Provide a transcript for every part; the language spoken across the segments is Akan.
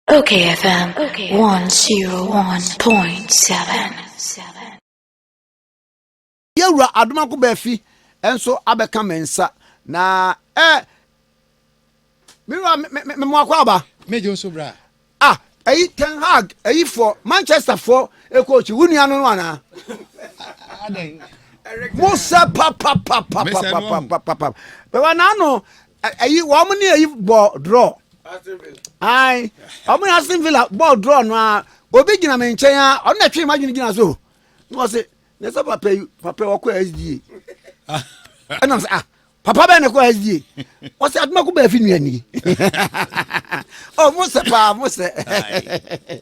Okay FM 101.7. Yɛwura Adomako Baafi nso abɛka me nsa na ɛ mewura mmoakɔ aba. Mejo nso bra. Ah, ɛyi Ten Hag ɛyi fɔ Manchester fɔ ekɔɔkyi wo nua no no anaa. Musa papapapapapapapapa bɛwa n'ano ɛyi wɔn ne ɛyi bɔɔ draw ayi wɔn ne Aston Villa bɔɔ draw no a obi gyina mi nkyɛn a ɔno na ɛtwe ma gyina gyina so na ɔsi na sɛ papa yi papa ɔkɔ SDA ɛna sɛ ah papa bɛyɛ na ɛkɔ SDA ɔsi adumako bɛyɛ fi nua ni ɔmo sɛ paa mo sɛ.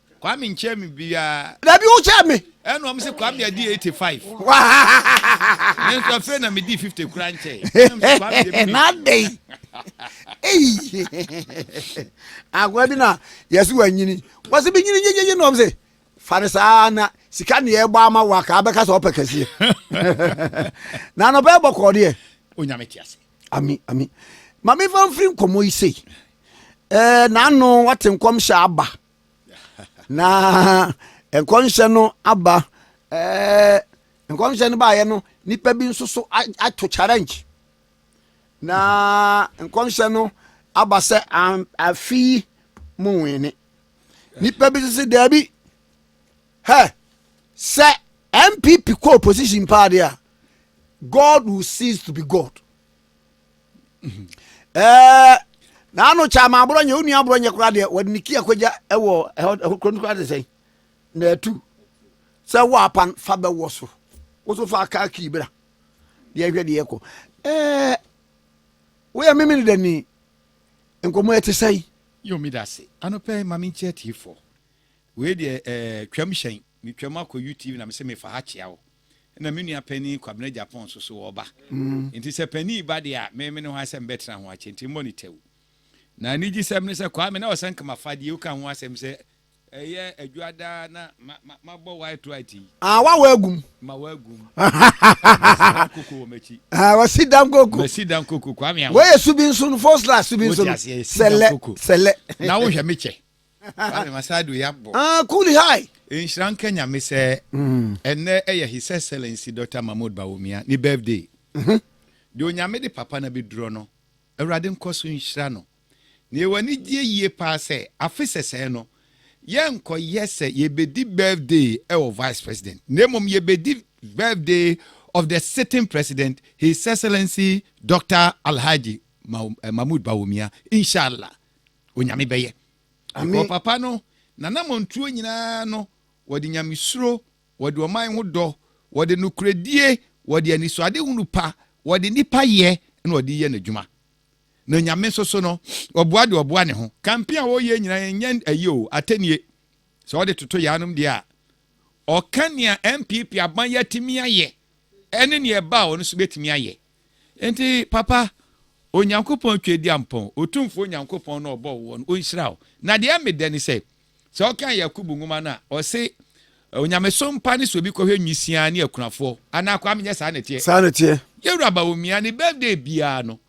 Kwame nkyɛn mi biara. Dabi wo kyɛn mi. Ɛna wɔn sɛ Kwame adi eighty five. Ne nso afei na mi di fifty kura nkyɛn. N'adɛn. Eyi. Agorɔ bi na yɛsi wɔ nyini. Wɔsi bi nyini gyegyegye na wɔn sɛ fari saa na sika na yɛbɔ ama wa ka abɛka sɛ ɔpɛ kɛseɛ. Na anɔpɛ ɛbɔ kɔɔ deɛ. Onyame ti ase. Ami ami. Maame fa nfiri nkɔmɔ yi sei. Ɛɛ n'ano wate nkɔm hyɛ aba. na nkɔnhyɛ no aba ɛɛ nkɔnhyɛ no baayɛ no nipa bi nso so ato challenge na nkɔnhyɛ no aba sɛ afi yi mu nwene nipa bi sisi daabi hɛ sɛ npp kɔ opposition paa deɛ a god will cease to be god. ɛɛ naanu kyaama aborɔ nyɛ onua aborɔ nyɛ koraa deɛ wɔde ne kii akɔgya ɛwɔ ɛhɔ ɛhɔ kuro no koraa de sɛn na ɛtu sɛ wɔ apan fa bɛ wɔ so wɔ so fa kaa kii bra deɛ hwɛ deɛ ɛkɔ ɛɛ woyɛ mímí ni dani nkɔmɔ ɛte sɛn. yóò mi da se anɔpɛ maame nkyɛn tiefo wei deɛ ɛɛ twɛm hyɛn mi twɛm akɔ utv na mi sɛ mi fa ha kyea o. Ɛna me nua panin Kwabena Agyapong nso so ɔba. Enti sɛ panin yi ba deɛ a, me me ne hwan sɛ mebɛtena ho akyɛ, nti mmɔ no tɛw. Na anigyesɛm ne sɛ Kwame na ɔsɛ nka mafa deɛ woka ho asɛm sɛ ɛyɛ adwadaa na ma, ma, mabɔ white white yi. Ah, wawa agum. Ma wa agum. Masi dan koko wɔ m'akyi. Ah, wasi dan koko. Masi dan koko, Kwame awo. Wɔyɛ su bi nso no, first class su bi nso no. Sɛlɛ, sɛlɛ. Na wohwɛ me kyɛ. Amen masaa do ya bɔ. Ah cool high. Nhyira nka Nyame sɛ ɛnɛ ɛyɛ His Excellency Dɔkta Mahmood Bawumia ne birthday. Deɛ Onyame de papa no abɛduro no, Awurade nkɔ so nhyira no. Na yɛwɔ anigyeɛ yie paa sɛ afe sɛsɛɛ no, yɛnkɔyɛ sɛ yɛbɛdi birthday ɛwɔ Vice President, na mmom yɛbɛdi birthday of the sitting President, His Excellency Dɔkta Alhaji Mahmood Bawumia, inshallah. Onyame bɛyɛ. Because papa no n'anammɔntuo nyinaa no, wɔde nyamesuro, wɔde ɔman ho dɔ, wɔde nokorɛdie, wɔde anisoadehunu pa, wɔde nnipa yɛ na ɔde reyɛ n'adwuma. Na Onyame nso so no, ɔboa deɛ ɔboa ne ho. Campaign a wɔyɛ nyinaa ɛnyɛ ayi o, atɛnie. Sɛ wɔde toto yaanom deɛ a, ɔka nea NPP aban yi atumi ayɛ ɛne nea ɛba a ɔno nso bɛtumi ayɛ. Enti papa, Onyankopɔn Tweduampɔn, Otumfoɔ Nyankopɔn no a ɔbɔɔ woɔ no, ɔnhyira wo. Na deɛ ɛyɛ me dɛ ne sɛ, sɛ wokan Yakobo nwoma no a, ɔse, Onyamesom pa ne sɛ obi kɔhwɛ nwisiaa ne akunafoɔ. Anaa Kwame, nyɛ saa na ɛteɛ? Saa na ɛteɛ. Yɛn Wura Bawumia, ne birthday biara no,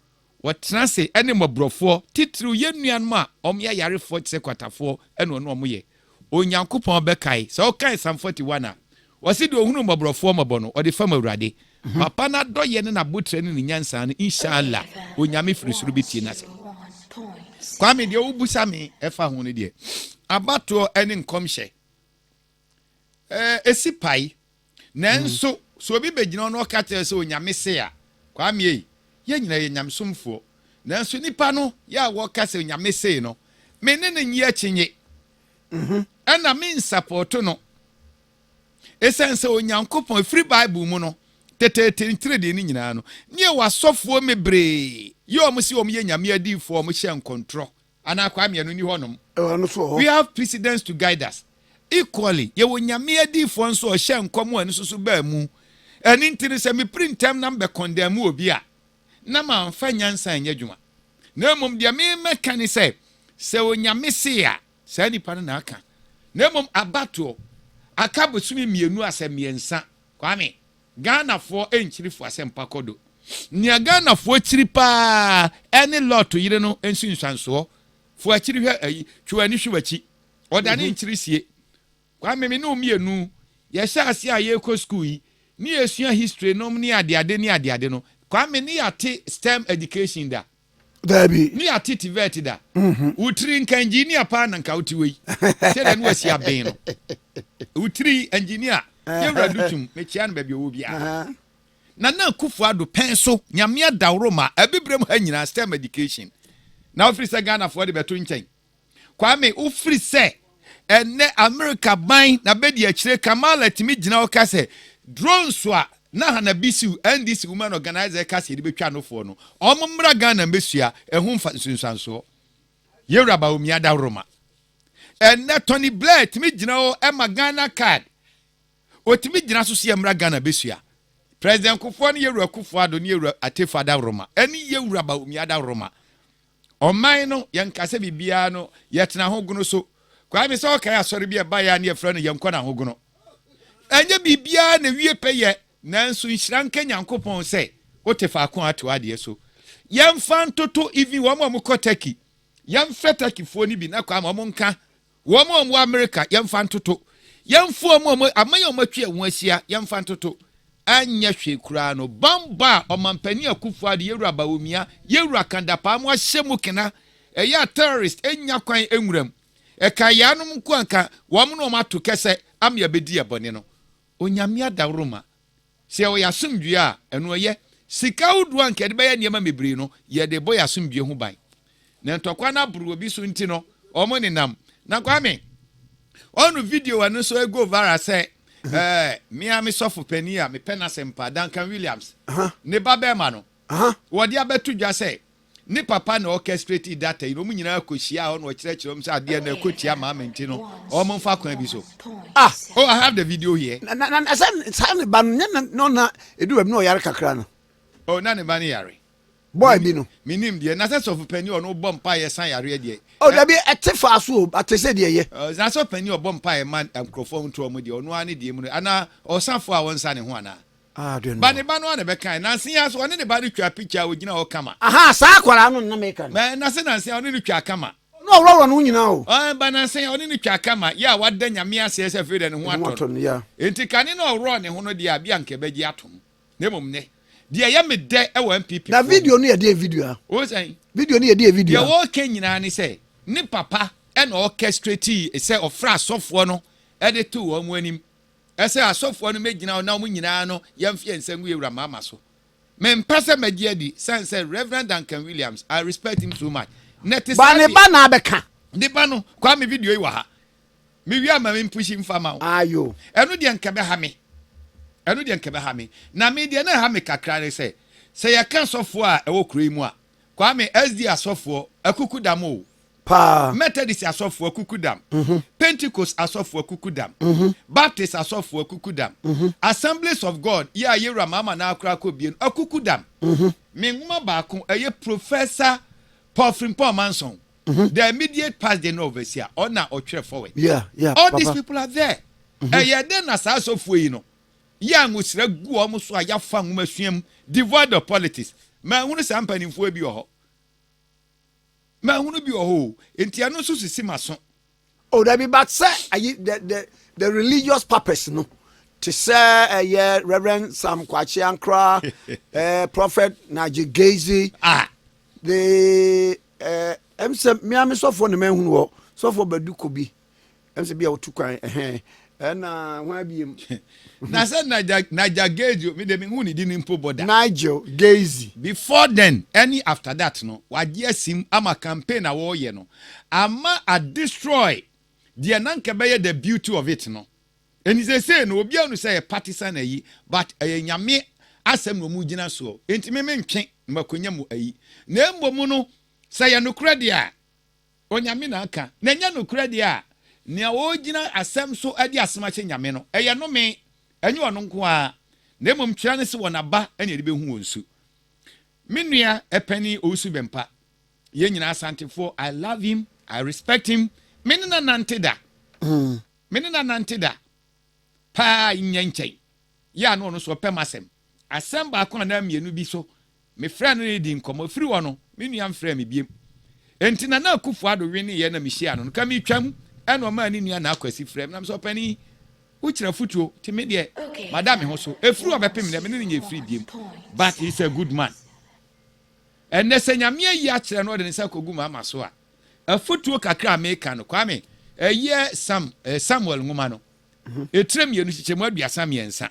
ɔtena ase ne mmɔborɔfoɔ, titiriw yɛn nuanom a wɔyɛ ayarefoɔ te sɛ kwatafoɔ na ɔne wɔn yɛ. Onyankopɔn bɛkae. Sɛ wokae Psalm forty one a, ɔse deɛ ɔhunu mmɔborɔfoɔ mmɔbɔ no, ɔde fam Awurade. Papa no adɔyɛ ne n'abotrɛ ne ne nyansa no, Inshallah, Onyame firi soro bɛtie n'asɛm. Kwame, deɛ wobusa me ɛfa ho no deɛ, abatoɔ ne nkɔmhyɛ, ɛsi pae. Nanso, sɛ obi bɛgyina hɔ na ɔka kyerɛ sɛ Onyame se a, Kwame ei, yɛn nyinaa yɛ nyamesomfoɔ. Nanso nipa no yɛ a ɔka sɛ Onyame see no, me ne no nnye akyinnye. Ɛna me nsapɔɔto no. Esiane sɛ Onyankopɔn, ɛfiri Bible mu no, teteete ntiridii no nyinaa no, ne ɛwɔ asɔfoɔ mebree yɛ wɔn se wɔn yɛ Nyame adiyifoɔ a wɔhyɛ nkɔntorɔ anaa kwaa mmienu nni hɔ nom. Awurade no nso wɔ hɔ. We have precedents to guide us. Equally, yɛwɔ Nyame adiyifoɔ nso a ɔhyɛɛ nkɔm a ɛno nso so baa mu. Ɛno nti no, sɛ mepiri ntɛm na mebɛ condemn obi a, na mamfa nyansa anyɛ adwuma. Na mmom deɛ memɛka ne sɛ, sɛ Onyame se a, saa nipa no na aka. Na mmom abatoɔ, aka bosome mmienu asɛ mmiɛnsa. Kwame. Ghanafoɔ nkyiri fo asɛmpa kɔ do. Nea Ghanafoɔ kyiri paa ne Lot yere no nsunsuansoɔ. Fo akyiri hwɛ ayi, twe w'ani hwɛ w'akyi. Ɔda ne nkyiri sie. Kwame me ne wo mmienu yɛhyɛ aseɛ a yɛrekɔ sukuu yi ne yɛresua history nom ne adeade ne adeade no Kwame ne yɛate stem education da. Daabi. Ne yɛ atete vɛɛt da. Mhm. Wo tiri nka engineer paa na nka wote wei. Sɛdeɛ ne wasi aben no. Wo tiri engineer. Yɛwura Dutum, mekyea no baabi ɔwɔ biara. Nana Akufo Addo pɛn so, Nyame adaworo ma, Abibirem ha nyinaa, stem education. Na wofiri sɛ Ghanafoɔ de bɛto nkyɛn. Kwame, wofiri sɛ ɛnnɛ Amerika ban na bedi akyire Kamala tumi gyina hɔ ka sɛ drones a na Hannah Bissue, NDC Women Organizer ka sɛ yɛde bɛtwa anofoɔ no, wɔn mmra Ghana mmɛsua ɛho mfa nsunsuansoɔ. Yɛwura Bawumia Dawuroma. Ɛnnɛ Tony Blair tumi gyina hɔ ɛma Ghana card. Ɔtumi gyina so sɛ yɛmmra Ghana bɛsua. President Kufuor ne Yɛwura Kufuor Addo ne Yɛwura Atefua Dawuroma ɛne Yɛwura Bawumia Dawuroma. Ɔman no, yɛnka sɛ biribiara no, yɛtena ahogono so. Kwame sɛ ɔkae asɔre bi a ɛbaeɛ a na yɛfrɛ no yɛnkɔ no ahogono. Ɛnyɛ biribiara na wie pɛ yɛ, nanso nhyira nka Nyankopɔn sɛ wote faako a ato adeɛ so. Yɛmfa ntoto even wɔn a wɔkɔ Turkey. Yɛmfrɛ Turkeyfoɔ no bi na Kwame wɔn nka Wɔn a wɔwɔ Amerika, yɛmfa ntoto. Yɛn mfo a wɔwɔ aman a wɔatwa yɛn ho ahyia, yɛmfa ntoto. Anyɛ hwee koraa no, banbɔ a Ɔmanpanin Akufo-Addo, Yewura Bawumia, Yewura Kan Dapaamo ahyɛ mu kena, ɛyɛ a terrorists nnya kwan nwura mu. Ɛka yaanom nko anka, wɔn na wɔato kɛsɛ ama yɛabedi yɛn bɔne no. Onyame adaworoma, Sɛ ɔyɛ asomdwoeɛ a, ɛno ɛyɛ. Sika ahodoɔ a anka yɛde bɛyɛ nneɛma bebree no, yɛde bɔ yɛn asomdwoeɛ ho ban. Na ntɔkwa no aboro obi so nti no, wɔnenam. Na Kwame, ɔno video ɛno nso ɛgo viral sɛ ɛɛ me a me sɔfo panin a mepɛ n'asɛm paa, Duncan Williams, ne ba bɛrima no, wɔde abɛto dwa sɛ Ne papa na orchestrate data yi na wɔn nyinaa kɔ hyia hɔ na ɔkyerɛkyerɛ wɔn sɛ adeɛ no ɛkɔ tia maame nti no wɔn nfa kwan bi so. Ah, oh I have the video here. Na na na sɛ saa ne ba no nyɛ na na ɔna edu baabi na ɔyare kakra no. Oh na ne ba no yare. Boy bi no. Me nim deɛ na sɛ sɔfo panyin ɔno bɔ mpa yɛ san yareɛ deɛ. Oh dabi ɛte fa so o ate sɛ deɛ yɛ. Oh na sɔfo panyin ɔbɔ mpa yɛ ma nkurɔfoɔ ho to wɔn deɛ ɔno ara ne deɛ mu no ana ɔsafo a ɔnsa ne ho anaa. Ba ne ba no ara na ɛbɛkae. Nanse yi ara so, ɔne ne ba no twaa pikya a ogyina hɔ kama. Ahaa, saa akwadaa no na na mereka no. Ba nase nanse a, ɔne no twaa kama. Ɔne ɔworɔworɔ ne ho nyinaa o. Ae, ba nase a, ɔne no twaa kama. Yɛ a wada Nyame ase sɛ afei de ne ho atɔ no. Enti kane na ɔworɔɔ ne ho no deɛ a, bi a anka ɛbɛgye atom. Na mmom nnɛ, deɛ ɛyɛ me dɛ wɔ NPP foɔ ho. Na video no yɛ deɛn video a? Wo sɛn? Video no yɛ deɛn video a? Deɛ wɔreka nyinaa ne sɛ, ne papa na ɔorchestratii sɛ ɔfrɛ asɔfoɔ no de too wɔn anim. Ɛsɛ asɔfoɔ no mɛgyina hɔ na wɔn nyinaa no yɛmfe yɛn nsa ngu yɛwura Mahama so. Mempɛ sɛ mɛgye adi sane sɛ Rev. Duncan Williams, I respect him so much, na ɛte saa deɛ. Bɔ ne ba na abɛka. Ne ba no, Kwame video yi wɔ ha. Mewie a ma me mpushi mfa ma wo. Ayo. Ɛno deɛ nka ɛbɛha me. Ɛno deɛ nka ɛbɛha me. Na me deɛ na ɛha me kakra ne sɛ, sɛ yɛka asɔfoɔ a ɛwɔ kuro yi mu a, Kwame SD asɔfoɔ akukudam o. Paa. Methodist asɔfoɔ akukudam. Pentecost asɔfoɔ akukudam. Baptist asɔfoɔ akukudam. Assemblies of God yi a Yewura Mahama na akora akɔbie no akukudam. Me nwoma baako ɛyɛ Professor Paul Frimpong Manson, The Immediate Past General Overseer, ɔna ɔtwerɛ forward. All these people are there. Ɛyɛ dɛn na saa asɔfoɔ yi no Yɛ a ngosira gu wɔn so a yɛafa nwomasua mu, devoid of politics. Manhunu saa mpanimfoɔ bi wɔ hɔ. Manhunu bi wɔ hɔ o, enti ɛno nso sisi m'aso. Oh, dabi, but sɛ ayi the the the religious purpose no te sɛ ɛyɛ Reverend Sam Kwakye Ankra, eh, Prophet Nigel Gazy, ah. the eh, ɛm sɛ mmea me sɔfoɔ na manhunu wɔ sɔfoɔ Badu Kobi. Ɛnso bi a wotu kwan ɛhɛn ɛna ho abiem. Na sɛ Nigel Gage o, me de me hu ne di ne mpo bɔ da. Nigel Gage. Before then ɛne after that no, wagye asim ama campaign a wɔreyɛ no ama a destroy deɛ na nka ɛbɛyɛ the beauty of it no. Enti sesei no obiara hu sɛ ɛyɛ partisan ayi but ɛyɛ Nyame asɛm na wɔn gyina soɔ. Enti me mentwe na makonya mu ayi. Na mmom no sɛ ɛyɛ nokorɛ deɛ a, Onyame na aka, na ɛnyɛ nokorɛ deɛ a, nea ɔregyina asɛm so de asɛm akyerɛ Nyame no, ɛyɛ nnome, ɛnyɛ ɔno nko ara, na mmom twerɛ ne se wɔn aba ne yɛde bɛhu wɔn su. Me nua panin Owusu Bempah, yɛn nyinaa Asantefoɔ, I love him, I respect him, me ne no anante da, me ne no anante da paa, nyɛ nkyɛn, yɛ a na ɔno nso ɔpɛ m'asɛm. Asɛm baako anaa mmienu bi so, mefrɛɛ no na yɛdii nkɔmmɔ. Ɛfiri hɔ no, me nua mfrɛɛ me bio. Enti Nana Akufo-Addo weneeɛ na mehyiaa no no, nka metwam, ɛnna ɔmaa ne nua Naa Kwasi frɛɛ me, na me sɛ, Ɔpanin, wokyerɛ afotuo, nti me deɛ, mada me ho so. Ɛfiri hɔ bɛpem nnɛ, me ne no nyɛ free bio. But he's a good man. Ɛnnɛ, sɛ Nyame ayi akyerɛ no, ɔde ne nsa kɔgu m'ama so a, afotuo kakra a meka no, Kwame, ɛyɛ Sam, Samuel nwoma no, etire mmienu, nkyekyɛmu aduasa mmiɛnsa.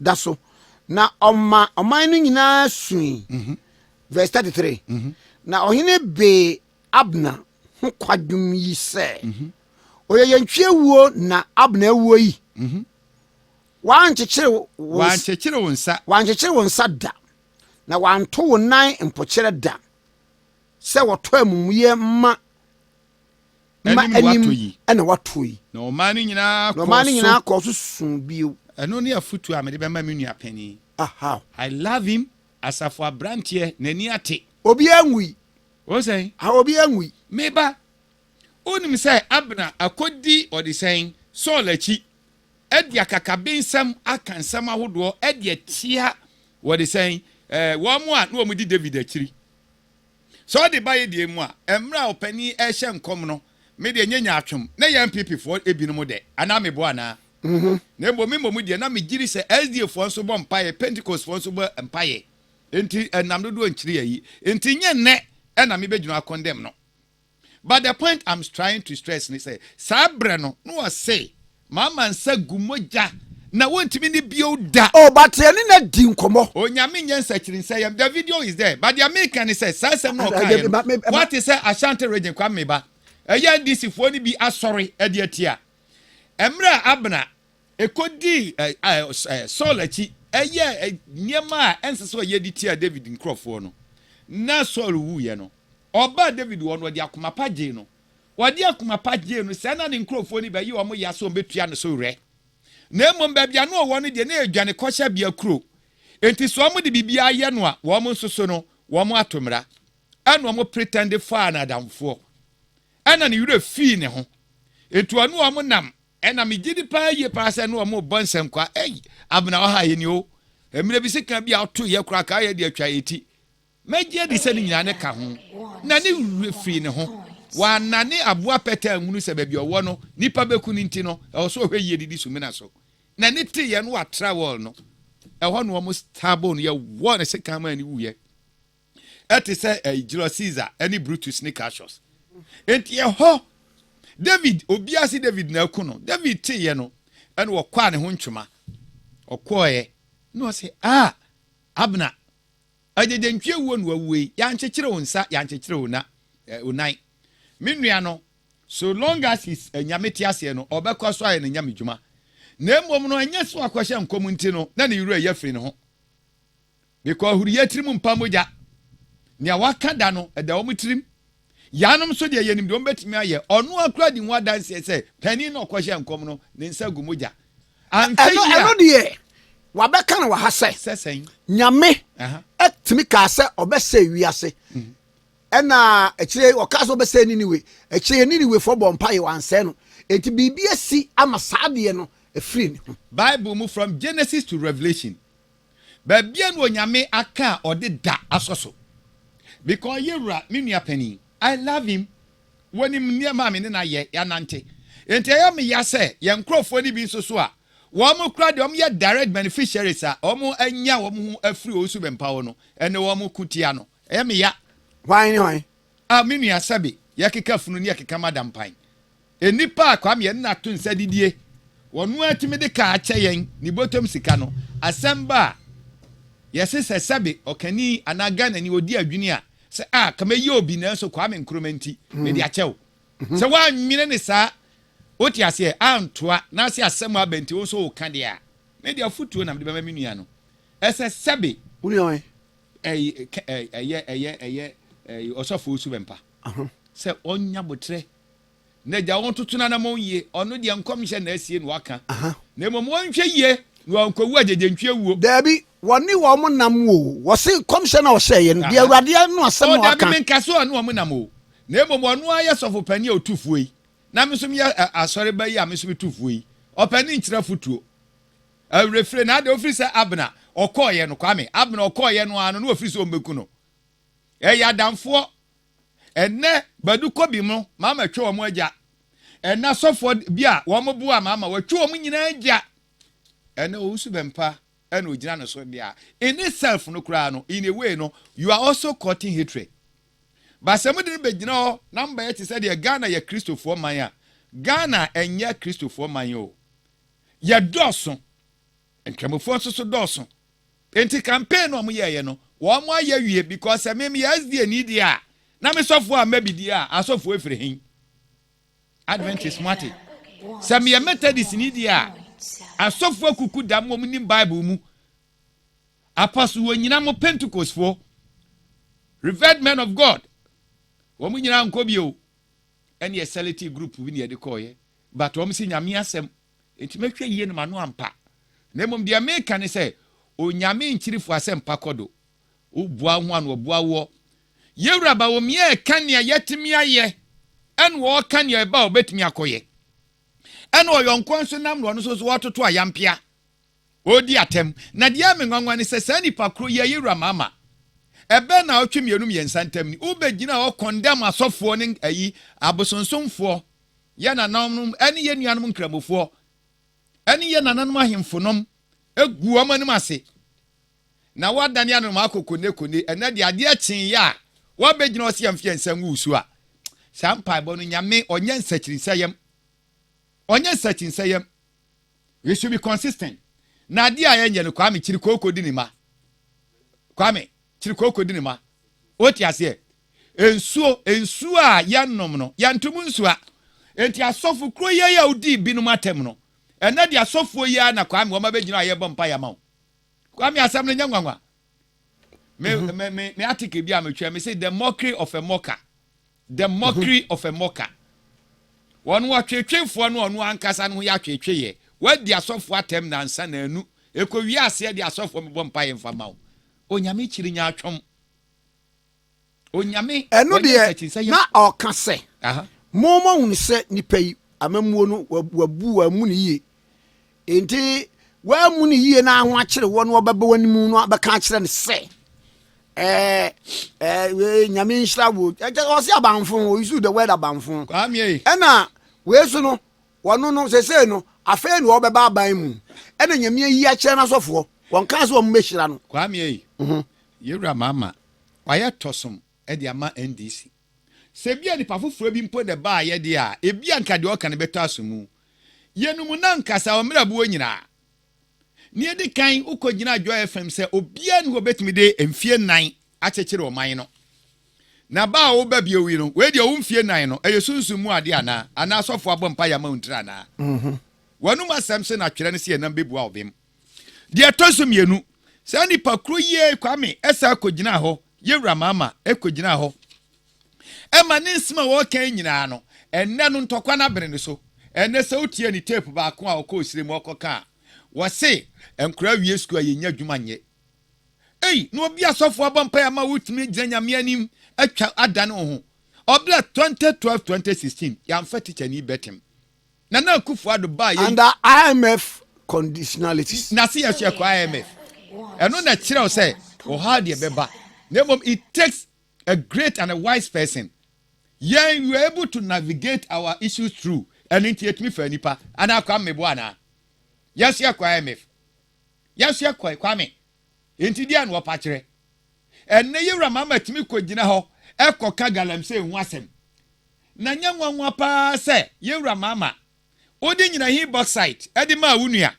da so, na ɔma ɔman no nyinaa sui. Mhm. Verse 33. Mhm. Na ɔhene bee Abner ho kwadwom yi sɛ, mhm. Ɔyɛ yɛn tweawuo na Abner awuo yi. Wankyekyere wo nsa. Wankyekyere wo nsa da, na wanto wo nan mpokyerɛ da sɛ wɔtɔ amumuyɛ ma mma anim na watɔ yi. Na ɔman no nyinaa kɔɔ so soo bio. Ɛno ne afotu a mede bɛma me nua panin. Aha. I love him, asafo abranteɛ, n'ani ate. Obiara nwui. Wo sɛn? Ha obiara nwui. Me ba, wonim sɛ Abner akɔdi ɔde sɛn? Saul akyi, adi akakabensɛm, aka nsɛm ahodoɔ de atia wɔde sɛn? Ɛɛ, wɔn a na wɔdi David akyiri. Sɛ ɔde ba yɛ deɛ mu a, mmerɛ a ɔpanin yi rehyɛ nkɔm no, me deɛ nyɛ nyaatwom, na yɛn NPP foɔ binom dɛ, anaa meboa anaa? Na mmom me mmom deɛ na me gyiri sɛ SDA foɔ nso bɔ mpaeɛ, Pentecost foɔ nso bɔ mpaeɛ, nti ɛnam dodoɔ nkyiri ayi, nti nyɛ nnɛ na me bɛgyina akɔndɛm no. but the point I'm trying to stress ne sɛ saa berɛ no na ɔse maama nsa gu mogya na wɔntumi ne bio da. Oh, but yɛne na di nkɔmmɔ. Onyame nyɛ nsakyirinsa yɛm. The video is there. But deɛ meka ne sɛ saa asɛm na ɔkaeɛ no wate sɛ Ashanti region kwa mmeba ɛyɛ NDC foɔ no bi asɔre ɛde atia. Mmerɛ a Abena Ɛkɔdii Saul akyi yɛɛ nneɛma a ɛnsɛ sɛ ɔyɛ de tiaa Dawid nkurɔfoɔ no, na Saul wuiɛ no, ɔbaa Dawid hɔ no, ɔde akoma pa gyee no. Ɔde akoma pa gyee no saa na ne nkurɔfoɔ no bɛyɛɛ wɔn yea sɛ wɔbɛtua ne so werɛ. Na mmom baabi a na ɔwɔ no deɛ, na ɛyɛ dwanekɔhyɛbea kuro, enti sɛ wɔde biribiara yɛ no a, wɔn nso so no, wɔato mmara. Ɛnna wɔn pretɛnde faa no adamfoɔ, ɛnna ne werɛ fii ne ho, enti ɔne wɔn nam Ɛna me gyidi paa yie paa sɛ ne wɔn rebɔ nsɛnkwa ei Abena ɔha yɛ ni o mmerɛ bi sekan bi a ɔto yɛ koraa kaa yɛ de atwa yɛ ti mɛgye adi sɛ ne nyinaa ne ka ho na ne werɛ firii ne ho wɔanane aboa pɛtɛ anhunu sɛ baabi ɔwɔ no nipa bɛku no nti no ɛwɔ sɛ ɔhwɛ yie de di sumina so na ne te yɛ no wɔ atrawɔl no ɛhɔ na wɔn staboo no yɛ wɔɔ ne sekan maa ne wuiɛ. ɛte sɛ eh, Julius Caesar ne Brutus ne Cassius. Enti ɛhɔ David, obiara se David na aku no. David teeɛ no, ɛna ɔkɔɔ a ne ho ntwema. Ɔkɔɔeɛ na ɔse, ah, Abner, agyagya ntwie wuo na wawuo yi, yɛankyekyere wo nsa, yɛankyekyere wo na eh, wo nan. Me nua no, so long as his eh, nyame te aseɛ no, ɔbɛkɔ so ayɛ ne nyame dwuma. Na mmom no, ɛnyɛ so akɔhyɛ nkɔm nti no, na ne werɛ yɛ firi ne ho. Mekɔ ahuruyɛ tirim mpa mogya. Nea wɔaka da no, ɛda wɔn tirim. Yaanom nso deɛ, yɛnim deɛ wɔbɛtumi ayɛ. Ɔno ara koraa di ho adanseɛ sɛ panin no a ɔkɔhyɛɛ nkɔm no, ne nsa gu mogya. Anhwɛ yie a. Ɛno deɛ, wɔabɛka no wɔ ha sɛ. Sɛ sɛn? Nyame tumi kaa sɛ ɔbɛsɛe wiase. Mhm. Ɛna akyire ɔkaa sɛ ɔbɛsɛe Niniwe. Akyire yɛ Niniwefoɔ bɔ mpaeɛ, wɔansɛe no. Enti biribi asi ama saa deɛ no afiri ne ho. Bible mu from Genesis to Revelation. Baabiara na onyame aka a ɔde da asɔ so because ɔyɛ wura me nua panin I love him wɔnim nneɛma a me ne no ayɛ yɛanante nti ɛyɛ me ya sɛ yɛn nkurɔfoɔ no bi nso so a wɔn kora deɛ wɔn yɛ direct beneficiaries a wɔn anya wɔn ho afiri Owusu Bɛmpa hɔ no ɛne wɔn ko tia no ɛyɛ me ya. Hwan ne hwan? Ah me nua sɛbe yɛkeka funu ne yɛkeka madam pan Nnipa a Kwame yɛne no ato nsa didie, ɔno ara tumi de kaa kyɛ yɛn, ne bɔtɔm sika no, asɛm ba a, yɛse sɛ sɛbe ɔkani anaa Ghanani ɔdi adwini a, sɛ ah, ka mɛyɛ obi nanso Kwame Nkrumah nti, mede akyɛ wo. Sɛ woannwene ne saa, wote aseɛ, antoa na ase asɛm a aba nti wo nso woka deɛ a, me deɛ afotuo na mede bɛma me nua no, ɛsɛ sɛbe. Wo nua wɛn? Ɛyɛ, ɛyɛ, ɛyɛ, ɛyɛ, ɛyɛ, ɛyɛ Ɔsɔfo Osu Bɛmpa, sɛ ɔnya aboterɛ na gya wɔn ntoto n'anamɔn yie, ɔno deɛ nkɔmhyɛ na asie na waka, na mmom wɔnhwɛ yie na wɔankɔwu agyegyentwie wuo. Daabi, wɔne wɔn nam o, wɔse nkɔmhyɛ na ɔhyɛeɛ no, deɛ Awurade ano asɛm na waka. O daabi, menka sɛ ɔne wɔn nam o, na mmom ɔno ara yɛ sɔfo panin a ɔtu fuo yi, na me nso meyɛ asɔre ba yi a me nso metu fuo yi, ɔpanin nkyerɛ afotuo. Awerɛfire, na adɛn ɔfiri sɛ Abner ɔkɔeɛ no, Kwame, Abner ɔkɔeɛ no ara no na wɔfiri sɛ wɔmmɛku no. Ɛyɛ adamfoɔ Ɛnnɛ badu kɔ bi mo maama atwa wɔn agya. Ɛnnɛ asɔfoɔ bi a wɔn boa maama wɔatwa wɔn nyinaa agya. Ɛnnɛ owusu bɛmpa ɛna ogyina ne so deɛ a in itself no koraa no in a way no you are also courting hatred. Basɛ mo de no bɛgyina hɔ na mo bɛyɛ te sɛ deɛ Ghana yɛ Kristofoɔ man a Ghana ɛnyɛ Kristofoɔ man o. Yɛdɔɔso Nkramofo nso so dɔɔso. Enti campaign no a ɔmo yɛɛyɛ no wɔn ayɛ awie because sɛ me meyɛ SDA ni deɛ a na me sɔfoɔ amma bi deɛ a asɔfoɔ efiri he? Adventist moate? Sɛ meyɛ Methodist ni deɛ a asɔfoɔ akuku da mo ɔmo nim bible mu Apostle wɔ nyina mo Pentecost foɔ Revered men of God wɔn nyinaa nkɔ bio ɛne ɛsɛlete group bi ne yɛde kɔɔyɛ but wɔn se nyame asɛm Enti mɛhwɛ yie na m'ano ampa. Na mmom deɛ meka ne sɛ, Onyame nkyiri foɔ asɛmpa kɔ do. Wo boa wo ho ano ɔboa woɔ. Yewura Bawomia reka nea yɛatumi ayɛ ɛna ɔreka nea ɛba a ɔbɛtumi akɔyɛ. Ɛna ɔyɔnkoɔ nso nam na ɔno nso so ɔretoto ayampea. Ɔredi atɛm. Na deɛ ɛyɛ me nwanwa ne sɛ, saa nipa koro yi, ɛyɛ Wura Maama. Ɛbɛyɛ nnawɔtwe mmienu mmiɛnsa ntam ni, wobɛgyina hɔ kɔndɛm asɔfoɔ ne ayi, abosonsomfoɔ, yɛn nananom ne yɛn nuanom nkramofoɔ, ne yɛn nananom ahemfonom, gu wɔn anim ase. Na woadane anonom akɔ kone kone, ɛnɛ deɛ adeɛ kyeeɛ a, woabɛgyina hɔ sɛ yɛmfe yɛn nsa ngu wo so a, saa mpaebɔ no, Nyame, ɔnyɛ nsɛkyerensɛyɛm. Ɔnyɛ nsɛkyerensɛyɛm. We should be consistent. Na ade a yɛnyɛ no Kwame kyiri kooko di ne ma. Kwame kyiri kooko di ne ma. Wote aseɛ? Nsuo nsuo a yɛnom no yɛntom nsuo a enti asɔfo kuro yɛ yɛ wodi binom atɛm no ɛnɛ de asɔfoɔ yi ara na Kwame wɔn abɛgyina a yɛbɔ mpa yɛma wo. Kwame asɛm no nyɛ nwanwa. Me, mhm. me, me, me article bi a metwerɛ me se the mockery of a mocker. The Mockery of a Mocker. Wɔn ɔtweetweefoɔ no ɔno ankasa no ho yɛ atweetweeɛ. Wadi asɔfoɔ atɛm nnansa na anu. Ɛkɔwie aseɛ deɛ asɔfoɔ mmɛbɔ mpaeɛ mfa mma wo. Onyame kyiri nyaatwom. Onyame Ɛno wanya deɛ nsakyinsayi. na ɔka sɛ, Aha. Mo moahunu sɛ nipa yi, amammuo no, wa- wabu, wammu no yie. Enti woammu no yie na ho akyere woɔ na ɔbɛba w'anim no abɛka akyerɛ no sɛ ɛɛ ɛɛ wei nyame nhyira wo ɛkyɛ ɔsi abanfo o use the word abanfo ɛna wei so no wɔn no sese no afei na ɔbɛba aban mu ɛna nyame ayi akyerɛ n'asɔfoɔ wɔn kan so wɔn bɛhyira no. kwamie yi mhm. yɛwura maama wayɛ tɔsom ɛde ama ndc Sɛ ebia nipa foforɔ bi mpo na ɛbaeɛ deɛ a, ebia anka deɛ ɔreka no bɛtɔ asomu. Yɛn mu no ankasa wɔ mmerɛboɔ nyinaa. Nea edi kan, wokɔgyina Joy FM sɛ obiara nni hɔ a obɛtumi de mfeɛ nnan akyekyere ɔman no. Na ba a woreba bio yi no, wei deɛ wo mfeɛ nnan no, ɛyɛ sunsum mu adeɛ anaa? Anaa asɔfoɔ abɔ mpaeɛ ama wo ntira anaa? W'anom asɛm so na twerɛ no sɛ yɛn nam bɛbua wo bem. Deɛ ɛtɔ so mmienu, saa nipa koro yi ee Kwame ɛsan kɔgyinaa hɔ, Yewura Maama ɛkɔgyinaa hɔ. Ɛma ne nsɛm a ɔreka yi nyinaa no, ɛnnɛ no ntɔkwa no abene ne so. Ɛnnɛ sɛ wotie ne tape baako a ɔkɔ Osire mu ɔkɔka a, wɔse nkwadaa awie sukuu a yɛnnya adwuma nyɛ. Ei, na obi asɔfo abɔ mpaeɛ ama wotumi agyina Nyame anim atwa adane wo ho. Ɔbrɛ 2012-2016, yɛamfa tikyani bɛtem. Nana Akufo Addo baa yɛn. Under IMF conditionalities. Na se yɛhwɛ kɔ IMF. Ɛno na kyerɛw sɛ ɔhaw deɛ bɛba. Na mmom it takes a great and a wise person. Yɛn we are able to navigate our issues through. Ɛno nti yɛtumi fa nipa. Anaa Kwame meboa anaa? Yɛhwɛ kɔ IMF. Yɛhwɛ kɔ Kwame. Enti deɛn na ɔpa kyerɛ? Ɛnnɛ yi Wura Mahama tumi kɔgyina hɔ kɔka galamsey ho asɛm. Na nyɛ nwanwa pa ara sɛ yɛn Wura Mahama, wode Nyinahi bauxite de maa wo nua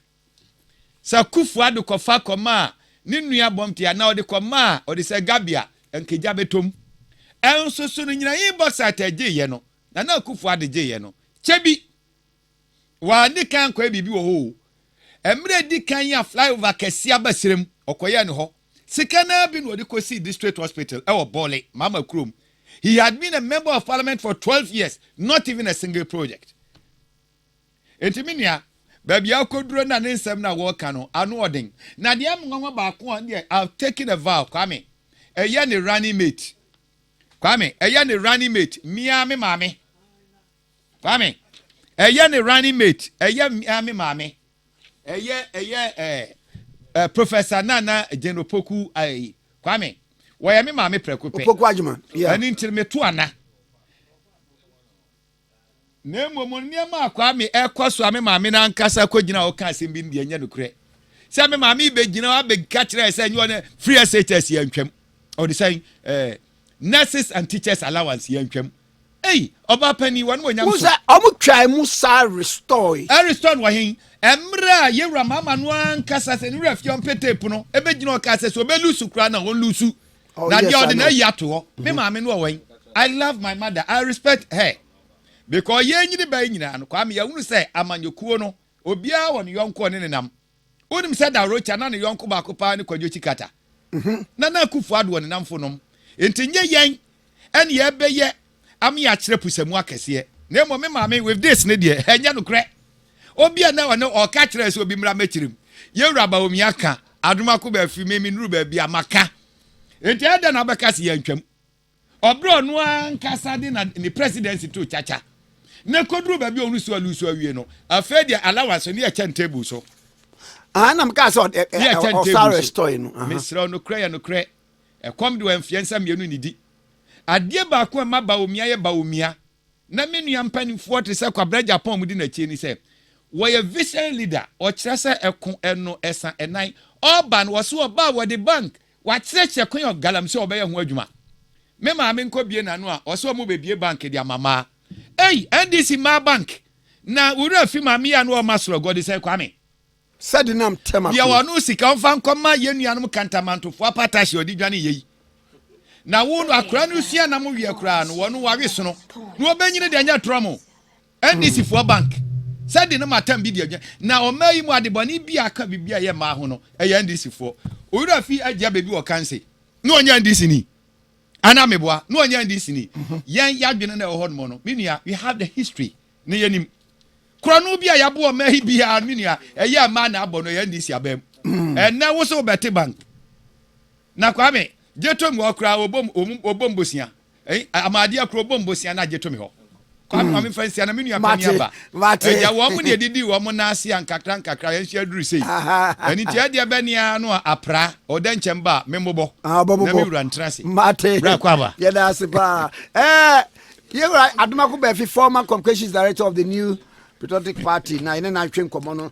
Sir Kufu Addo kɔfa kɔmaa ne nua Bompte anaa ɔde kɔmaa ɔde Sir Gabi a anka gya bɛtɔ mu. Ɛnso so no Nyinahi bauxite a ɛgyeeɛ no, Nana Akufo Addo gyeeɛ no, kyɛ bi. Wanni kan ankɔyɛ biribi wɔ hɔ oo. Mmerɛ a ɛdi kan yi a flyover kɛseɛ aba serɛ mu, ɔkɔyɛɛ no hɔ. Sika no ara bi na ɔde kɔsii District Hospital wɔ Bole, Mama kurom. He had been a member of parliament for 12 years, not even a single project. Enti me nua, baabi a akɔduro na ne nsɛm na wɔka no, ano ɔden. Na deɛ ɛyɛ me nwanwa baako a, deɛ I've taken a vow, Kwame, ɛyɛ ne running mate. Kwame, ɛyɛ ne running mate, me ara me maame. Kwame, ɛyɛ ne running mate, ɛyɛ mmea me maame, ɛyɛ ɛyɛ ɛɛ ɛɛ Professor Nana General Poku ɛɛ Kwame, wɔyɛ me maame prɛko pɛ. Opoku adwuma. Yeah. Ɛne ntiri me to ana. Na mmom nneɛma a Kwame ɛkɔ so a me maame n'ankasa kɔ gyina ɔka asɛm bi no deɛ nyɛ nokorɛ. Sɛ me maame yi bɛ gyina abɛ ka kyerɛ sɛ nyɛ ɔne free SHS yɛn twɛm. Ɔde sɛn ɛɛ nurses and teachers allowance yɛn twɛm. Ei, ɔbaa panyin wɔ animuonyam so. Wohu sɛ wɔn twae mu saa restore. Ɛrestore no wɔ he? Mmerɛ a yɛwura maama no ankasa sɛ ne wura fie ɔmpɛ tape no, ɛbɛgyina ɔkaa sɛ sɛ ɔbɛlusu koraa na ɔnlusu. Oh, na deɛ ɔde na ayi ato hɔ. Me mm-hmm. maame no wɔ wɔn. I love my mother. I respect her. Because yɛnyini bɛyɛ nyinaa no, kwame yɛhunu sɛ amanyɔkuo no, obiara wɔ ne yɔnkoɔ ne nenam. Wonim sɛ Daorocha na ne yɔnko baako paa ne Kwadwo Tsikata. Mhm. Na na Akufo Addo ne namfonom. Enti nye yɛn ɛne yɛbɛyɛ ama yɛakyerɛ pusamu akɛseɛ. Na mmom me maame with this no deɛ ɛnyɛ nokorɛ. Obi a na ɔne ɔka kyerɛɛ sɛ obi mmra mɛkyere mu. Yɛn wura Bawumia ka, Adom Akoba afi me, me nnuru baabi a, maka. Enti ɛyɛ dɛn na wobɛka se yɛantwam? Ɔbrɛ ɔno ankasa de na ne presidency to kyakya. Ne koduru baabi a ɔno so alusu awie no, afei deɛ allowance ne yɛ kyɛn table so. Ah, na meka sɛ ɔde ɛ- ɛ- ɛ- ɔsa restore no. Aha. Mesrɛ wo nokorɛ yɛ nokorɛ. Ɛkɔm de wamfeɛ nsa mmienu ne di. Adeɛ baako a ɛma Bawumia yɛ Bawumia na me nua mpanimfoɔ te sɛ Kwabena Japan wɔn di n'akyi ni sɛ wɔyɛ vision leader. Ɔkyerɛ sɛ ɛko, ɛno, ɛsa, ɛnan. Ɔba no wɔso ɔba a wɔde bank Wɔakyerɛkyerɛ kwan a galamsey a ɔbɛyɛ ho adwuma. Me maame nkɔbue n'ano a ɔsɛ ɔmo bɛbue bank de ama mmaa. Ei! NDC mmaa bank na wo werɛ afi maame yi a na ɔma soro aguade sɛn Kwame? Sɛ de nam tɛm ako. Deɛ ɔno sika ɔmfa nkɔ ma yɛn nuanom kantamantofoɔ apataahye a ɔde dwane yɛ yi. Na wo no akwadaa no sua nam weɛ koraa no wɔno wawe sono. Na ɔbɛnyini deɛ nyɛ trɔmo. NDC foɔ bank sɛ de no ma tam bi deɛ dwɛn na ɔmaa yi mu adebɔne bi a ka biribi a ɛyɛ mmaa ho no ɛyɛ NDC foɔ owura fi agya baabi wɔ kanse na ɔnyɛ NDC ni ana meboa na ɔnyɛ NDC ni yɛn yɛadwene na ɛwɔ hɔ nom no menua we have the history ne yɛnim korɔno bi a yɛaboɔ ɔmaa yi biara no menua ɛyɛ mmaa na abɔ no ɛyɛ NDC abam ɛnɛ wo sɛ wobɛte bank na kwame gye to mu ɔkora obom obom bosia Ei, ama adeɛ akuro bom bosia no agye to me hɔ. Kwame maame fa nsia na me nua panin aba. Agya wɔn deɛ didi wɔn nan ase a nkakra nkakra yɛn nso aduru sei. Ɛni nti ɛdeɛ bɛ nea no a apra ɔda nkyɛn ba me mbobɔ na me wura ntena ase. Mate. Bra kwa aba. Yɛda ase paa. Eh, yɛwura Adomako Bɛfi former communications director of the new patriotic party na yɛne no atwe nkɔmmɔ no.